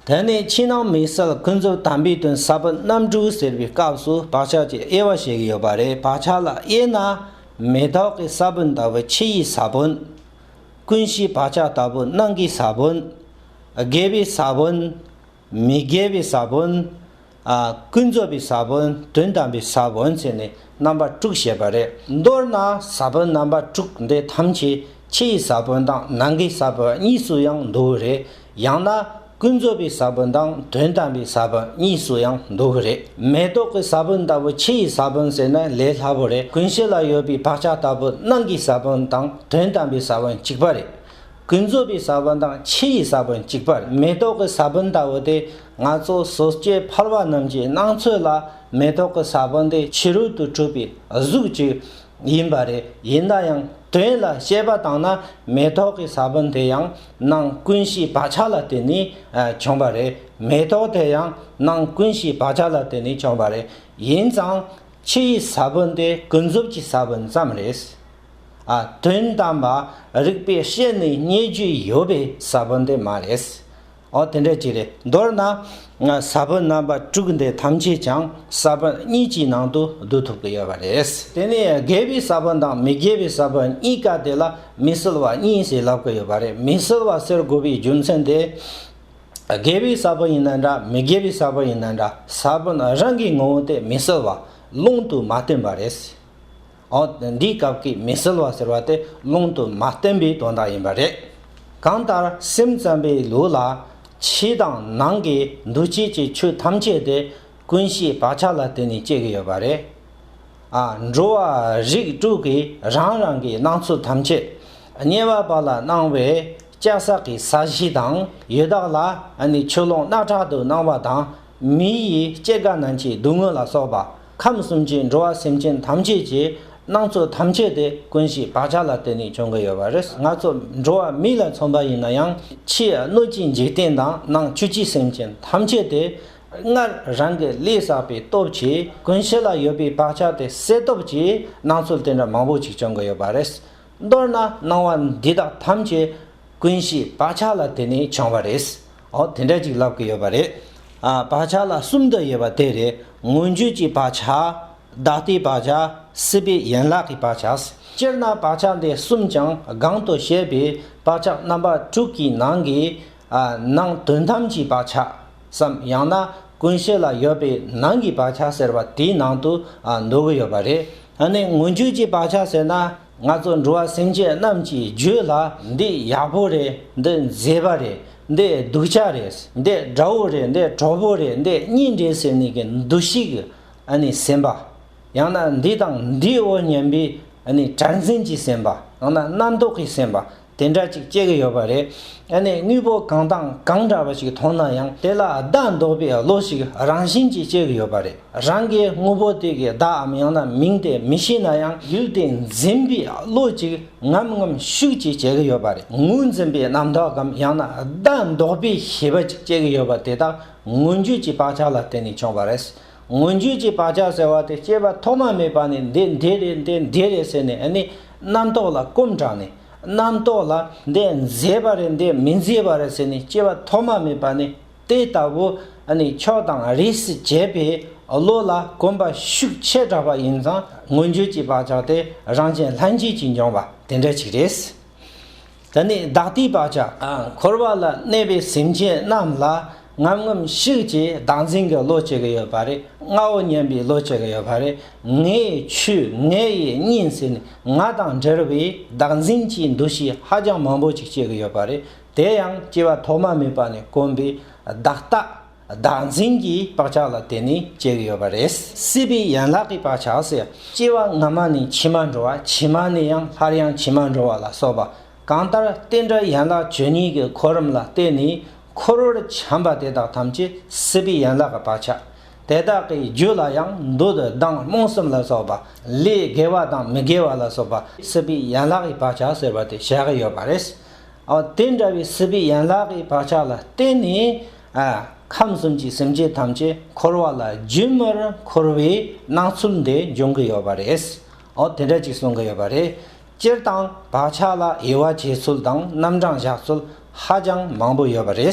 དེ་ནས་ཕྱི་ནང་མི་སེར་ཀུན་ཚོར་དམ་པའི་དོན་ཟབ་པོ་རྣམ་དྲུག་ཟེར་བའི་སྐབས་སུ་བག་ཆགས་ཀྱི་དབྱེ་བ་ཞིག་ཡོད་པ་རེད་བག་ཆགས་ལ་དབྱེ་ན། མེ་ཏོག་གི་ས་བོན་ལྟ་བུ་ཕྱི་ཡི་ས་བོན། ཀུན་གཞིའི་བག་ཆགས་ལྟ་བུ་ནང་གི་ས་བོན། དགེ་བའི་ས་བོན། མི་དགེ་བའི་ས་བོན། ཀུན་རྫོབ་པའི་ས་བོན་དོན་དམ་པའི་ས་བོན་ཚད་ནི་རྣམ་པ་དྲུག་བཤད་པ་རེད། མདོར་ན་ས་བོན་རྣམ་པ་དྲུག་འདི་ཐམས་ཅད་ཕྱི་ཡི་ས་བོན་དང་ནང་གི་ས་བོན་གཉིས་སུ་ཡང་འདུ་བ་རེད། ཡང་ན་ཀུན་རྫོབ་པའི་ས་བོན་དང་དོན་དམ་པའི་ས་བོན་གཉིས་སུ་ཡང་འདུ་བ་རེད། མེ་ཏོག་གི་ས་བོན་ལྟ་བུ་ཕྱི་ཡི་ས་བོན་ཟེར་ན་ལས་སླ་བོ་རེད་ཀུན་གཞི་ལ་ཡོད་པའི་བག་ཆགས་ལྟ་བུ་ནང་གི་ས་བོན་དང་དོན་དམ་པའི་ས་བོན་གཅིག་པ་རེད། ཀུན་རྫོབ་པའི་ས་བོན་དང་ཕྱི་ཡི་ས་བོན་གཅིག་པར་མེ་ཏོག་གི་ས་བོན་ལྟ་བུ་དེ་ང་ཚོ་སོ་སྐྱེ་འཕར་བ་རྣམས་ཀྱི་སྣང་ཚོད་ལ་མེ་ཏོག་གི་ས་བོན་དེ་ཕྱི་རོལ་དུ་གྲུབ་པའི་གཟུགས་ཅིག་ཡིན་པ་རེད་ཡིན་ན་ཡང་དོན་ལ་དཔྱད་པ་བཏང་ན་མེ་ཏོག་གི་ས་བོན་དེ་ཡང་སྣང་ཀུན་གཞིའི་བག་ཆགས་ལ་བརྟེན་ནས་བྱུང་བ་རེད་མེ་ཏོག་དེ་ཡང་སྣང་ཀུན་གཞིའི་བག་ཆགས་ལ་བརྟེན་ནས་བྱུང་བ་རེད་ཡིན་ཙང་ཕྱི་ཡི་ས་བོན་དེ་ཀུན་རྫོབ་ཀྱི་ས་བོན་ཙམ་རེད། ཨ། དོན་དམ་པ་རིག་པའི་ཤེས་ནི་རྙེད་རྒྱུ་ཡོད་པའི་ས་བོན་དེ་མ་རེད། ཨོ་དེ་འདྲ་ཅིག་རེད། མདོར་ན། ས་བོན་རྣམ་པ་དྲུག་འདི་ཐམས་ཅད་ཀྱང་ས་བོན་གཉིས་ཀྱི་ནང་དུ་བསྡུ་ཐུབ་ཀྱི་ཡོད་པ་རེད། དེ་ནི་དགེ་བའི་ས་བོན་དང་མི་དགེ་བའི་ས་བོན་གཉིས་ཀ་དེ་ལ་མི་སྲུལ་བ་གཉིས་ཞེས་ལབ་ཀྱི་ཡོད་པ་རེད། མི་སྲུལ་བ་ཟེར་དགོས་པའི་རྒྱུ་མཚན་དེ། དགེ་བའི་ས་བོན་ཡིན་ན་འདྲ་མི་དགེ་བའི་ས་བོན་ཡིན་ན་འདྲ་ས་བོན་རང་གི་ངོ་བོ་དེ་མི་སྲུལ་བ་ཀློང་དུ་མ་སྟོན་པ་རེད། འོན་འདིའི་སྐབས་ཀྱི་མི་གསལ་བ་ཟེར་བ་དེ་ལུང་དུ་མ་བསྟན་པའི་དོན་དག་ཡིན་པ་རེད། གང་ལྟར་སེམས་ཙམ་པའི་ལུགས་ལ། ཕྱི་དང་ནང་གི་འདུ་བྱེད་ཀྱི་ཆོས་ཐམས་ཅད་དེ་ཀུན་གཞིའི་བག་ཆགས་ལ་བརྟེན་ནས་སྐྱེ་གི་ཡོད་པ་རེད། ཨ་འགྲོ་བ་རིགས་དྲུག་གིས་རང་རང་གི་སྣང་ཚུལ་ཐམས་ཅད་ཉེ་བར་བག་ལ་སྣང་བས་སྐྱ་སག་གི་ས་གཞི་དང་ཡི་དྭགས་ལ་ནི་ཆུ་ཀླུང་སྣ་ཁྲག་ཏུ་སྣང་བ་དང་མི་ཡི་སྐྱེ་རྒ་ན་འཆིའི་སྡུག་བསྔལ་ལ་སོགས་པ། ཁམས་གསུམ་གྱི་འགྲོ་བ་སེམས་ཅན་ཐམས་ཅད་ཀྱི་སྣང་ཚུལ་ཐམས་ཅད་དེ་ཀུན་གཞིའི་བག་ཆགས་ལ་བརྟེན་ནས་བྱུང་གི་ཡོད་པ་རེད། ང་ཚོ་འགྲོ་བ་མིག་ལ་མཚོན་པ་ཡིན་ན་ཡང་ཕྱིའི་སྣོད་ཀྱི་འཇིག་རྟེན་དང་ནང་བཅུད་ཀྱི་སེམས་ཅན་ཐམས་ཅད་དེ་སྔར་རང་གི་ལས་བསགས་པའི་སྟོབས་ཀྱིས་ཀུན་གཞི་ལ་ཡོད་པའི་བག་ཆགས་དེ་སེལ་སྟོབས་ཀྱི་སྣང་ཚུལ་དེ་འདྲ་མང་པོ་ཅིག་བྱུང་གི་ཡོད་པ་རེད། མདོར་ན་སྣང་བ་འདི་དག་ཐམས་ཅད་ཀུན་གཞི་བག་ཆགས་ལ་བརྟེན་ནས་བྱུང་བ་རེད། འོ་དེ་འདྲ་ཅིག་ལབ་ཀི་ཡོད་པ་རེད། བག་ཆགས་ལ་གསུམ་དུ་དབྱེ་བ་དེ་རེད་མངོན་བརྗོད་ཀྱི་བག་ཆགས། བདག་ལྟའི་བག་ཆགས། སྲིད་པའི་ཡན་ལག་གི་བག་ཆགས། སྤྱིར་ན་བག་ཆགས་འདི་གསུམ་ཀྱང་གང་དུ་བཤད་པའི་བག་ཆགས་རྣམ་པ་དྲུག་གི་ནང་གི། ནང་དོན་ཐམས་ཅད་བག་ཆགས་སམ་ཡང་ན་ཀུན་གཞི་ལ་ཡོད་པའི་ནང་གི་བག་ཆགས་ཟེར་བ་དེའི་ནང་དུ་འདུ་གི་ཡོད་པ་རེད། ད་ནི་མངོན་བརྗོད་ཀྱི་བག་ཆགས་ཟེར་ན་ང་ཚོ་འགྲོ་བ་སེམས་ཅན་རྣམས་ཀྱི་རྒྱུད་ལ་འདི་ཡག་པོ་རེད་འདི་མཛེས་པ་རེད་འདི་སྡུག་ཅག་རེད་འདི་དགྲ་བོ་རེད་འདི་གྲོགས་པོ་རེད་འདི་གཉེན་རེད་ཟེར་ནས་ཀྱི་འདུ་ཤེས་ཀྱི་སེམས་པ། ཡང་ན་འདི་དང་འདིའོ་སྙམ་པའི་དྲན་འཛིན་གྱི་སེམས་པ་ཡང་ན་རྣམ་རྟོག་གི་སེམས་པ་དེ་འདྲ་ཅིག་སྐྱེ་གི་ཡོད་པ་རེད། ཡང་ན་དངོས་པོ་གང་དང་གང་འདྲ་བ་ཞིག་མཐོང་ན་ཡང་དེ་ལ་བདག་འདོགས་པའི་བློ་ཞིག་རང་བཞིན་གྱིས་སྐྱེ་གི་ཡོད་པ་རེད། རང་གིས་དངོས་པོ་དེ་གའི་བདག་འམ་ཡང་ན་མིང་དེ་མི་ཤེས་ན་ཡང་ཡུལ་དེ་འཛིན་པའི་བློ་ཅིག་ངམ་ངམ་ཤུགས་ཅིག་སྐྱེ་གི་ཡོད་པ་རེད། ངོས་འཛིན་པའི་རྣམ་དག་གམ་ཡང་ན་བདག་འདོགས་པའི་ཤེས་པ་ཅིག་སྐྱེ་གི་ཡོད་པ་དེ་དག་མངོན་བརྗོད་ཀྱི་བག་ཆགས་ལ་བརྟེན་ནས་བྱུང་བ་རེད། མངོན་བརྗོད་ཀྱི་བག་ཆགས་ཟེར་བ་དེ་སྐྱེས་པ་ཐོག་མ་མེད་པ་ནས་འདི་འདི་རེད་འདི་འདི་རེད་ཟེར་ནས་ནི་རྣམ་རྟོག་ལ་སྐོམ་དྲགས་ནས་རྣམ་རྟོག་ལ་འདི་མཛེས་པ་རེད་འདི་མི་མཛེས་པ་རེད་ཟེར་ནས་སྐྱེས་པ་ཐོག་མ་མེད་པ་ནས་དེ་ལྟ་བུ་ནི་ཕྱོགས་དང་རིས་སུ་བཅད་པའི་བློ་ལ་གོམས་པ་ཤུགས་ཆེ་དྲགས་པ་ཡིན་ཙང་མངོན་བརྗོད་ཀྱི་བག་ཆགས་དེ་རང་བྱན་ལྷན་སྐྱེས་ཀྱིས་འབྱུང་བ་དེ་འདྲ་ཅིག་རེད། དེ་ནས་བདག་ལྟའི་བག་ཆགས་འཁོར་བ་ལ་གནས་པའི་སེམས་ཅན་རྣམས་ལ་ངམ་ངམ་ཤིག་ཅེས་བདག་འཛིན་གྱི་བློ་སྐྱེ་གི་ཡོད་པ་རེད་ངའོ་སྙམ་པའི་བློ་སྐྱེ་གི་ཡོད་པ་རེད། ངའི་ཆོས་ངའི་ཡིན་སྙིང་ཟེར་ནས་ང་དང་འབྲེལ་བའི་བདག་འཛིན་གྱི་འདུ་ཤེས་ཧ་ཅང་མང་པོ་ཅིག་སྐྱེ་གི་ཡོད་པ་རེད་དེ་ཡང་སྐྱེ་བ་ཐོག་མ་མེད་པ་ནས་དཀོན་པའི་བདག་ལྟ་བདག་འཛིན་གྱི་བག་ཆགས་ལ་དེ་ནི་སྐྱེ་གི་ཡོད་པ་རེད། སྲིད་པའི་ཡན་ལག་གི་བག་ཆགས་སུ་སྐྱེ་བ་སྔ་མ་ནི་ཕྱི་མར་འགྲོ་བ་ཕྱི་མ་ནི་ཡང་སླར་ཡང་ཕྱི་མར་འགྲོ་བ་ལ་སོགས་པ་གང་ལྟར་རྟེན་འབྲེལ་ཡན་ལག་བཅུ་གཉིས་ཀྱི་འཁོར་རམ་ལ་བརྟེན་ནས་འཁོར་བར་བྱམས་པ་དེ་དག་ཐམས་ཅད་སྲིད་པའི་ཡན་ལག་གི་བག་ཆགས་དེ་དག་གི་རྒྱུད་ལ་ཡང་འདུ་དང་སྡང་རྨོངས་གསུམ་ལ་སོགས་པ་ལས་དགེ་བ་དང་མི་དགེ་བ་ལ་སོགས་པ་སྲིད་པའི་ཡན་ལག་གི་བག་ཆགས་ཟེར་བ་དེ་བཤད་གི་ཡོད་པ་རེད། དེ་འདྲ་བའི་སྲིད་པའི་ཡན་ལག་གི་བག་ཆགས་ལ་བརྟེན་ནས། ཁམས་གསུམ་གྱི་སེམས་ཅན་ཐམས་ཅད་འཁོར་བ་ལ་རྒྱུན་མར་འཁོར་བའི་སྣང་ཚུལ་འདི་འབྱུང་གི་ཡོད་པ་རེད། དེ་འདྲ་ཅིག་གསུང་གི་ཡོད་པ་རེད། སྤྱིར་བཏང་བག་ཆགས་ལ་དབྱེ་བ་འབྱེད་ཚུལ་དང་རྣམ་གྲངས་བཞག་ཚུལ་ཧ་ཅང་མང་པོ་ཡོད་པ་རེད།